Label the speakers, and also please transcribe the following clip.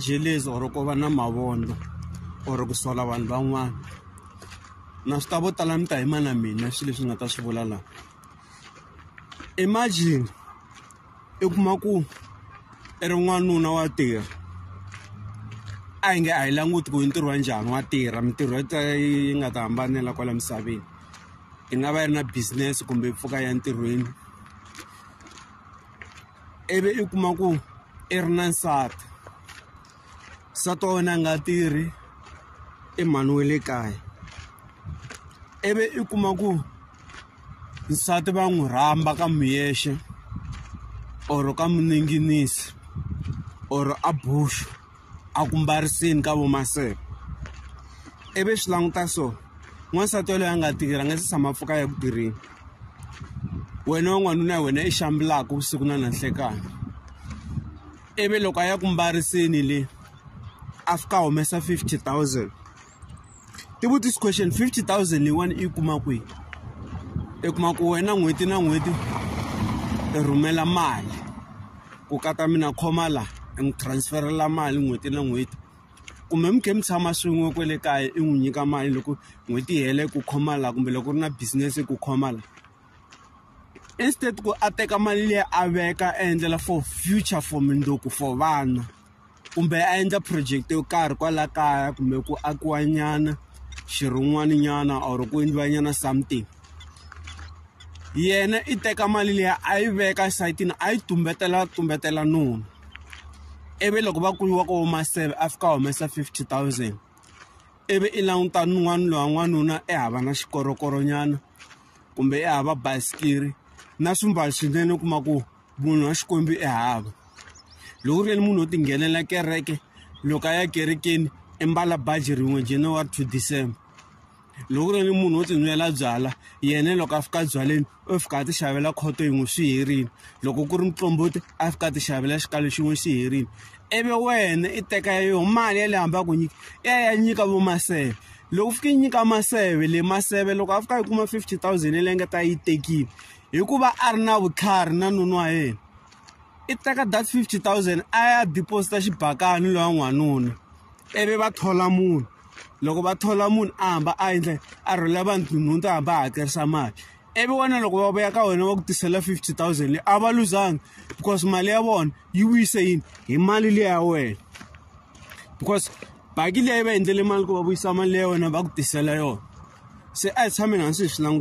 Speaker 1: jelezi or ku va na mavondzo or ku sola vanhu van'wana na swi ta vo tala mi ta yima na mina swilo leswi nga ta swi vula laha imagine i kuma ku i ri n'wanuna wa tirha a yi nge a yi languti ku yi ntirho wa njhani wa tirha mintirho yi nga ta hambanela kwala misaveni yi nga va yi ri na business kumbe yi pfuka ya ntirhweni ivi i kuma ku i ri na nsati nsati wa wena a nga tirhi i mhani we le kaya ivi i kuma ku nsati va n'wi rhamba ka muyexe or ka muninginisi or a bush a ku mbarisini ka vomaseve ivi swi languta so n'wansati yaloye a nga tirhi a nga se tshama pfuka ya ku tirheni wena wan'wanuna ya wena i xambulaka vusiku na nanhlekani ivi loko a ya ku mbarisini le a fika humesa fifty thousand tivu this question 50000 leyiwani i yi kuma kwihi i kuma ku wena n'hweti na n'hweti i rhumela mali ku ka ta mina khoma la i n'wi transferela mali n'hweti na n'hweti kumbe mi khe mi tshama swin'we kwale kaya i n'wi nyika mali loko n'hweti yi hela ku khoma la kumbe loko ri na business ku khoma la instead ku a teka mali leyi a veka a endlela for future for mindzuku for vana. kumbe a endla project yo karhi kwala kaya kumbe ku akiwa nyana xirhun'wani nyana or ku endliwa nyana something yena i teka mali leyi a yi veka esayitini a yi tumbetela tumbetela nuna ivi loko va kuyiwa ko huma seve a fika humesa fifty thousand ivi i languta n'wana lowa n'wanuna ehava na xikorokoronyana kumbe ehava basikiri na swimbalo swinene u kuma ku munhu wa xikwembu i hava loko ku ri yena munhu wo tinghenela kereke loko a ya kerekeni i mbala baji rin'we january to december loko ku ri yena munhu wo tinwela byala yena loko a fika byaleni u fika a ti xavela khoto yin'we swi herile loko ku ri mutlombote a fika a ti xavela xikalo xin'we xi herile ivi wena i teka ya yoho mali ya le hambi a ku nyika ya ya nyika vo maseve loko fika yi nyika maseve le maseve loko a fika yi kuma fifty thousand yi lengeta yi tekile hikuva a ri na vutlhari na nuna wa yena i teka that 50000 a ya deposita xibakani loya n'wanuna ivi va thola munhu loko va thola munhu a hamba a endla a rhwela vanhu nhunu to hamba a hakerisa mali ivi wena loko va vuya ka wena va ku tisela 50000 leyi a va luzanga because mali ya vona yi vuyise yini hi mali leyi ya wena because baki leyi va endlele mali ku va vuyisa mali leyi ya wena va ku tisela yona se a hi tshameni hansi hi swi languta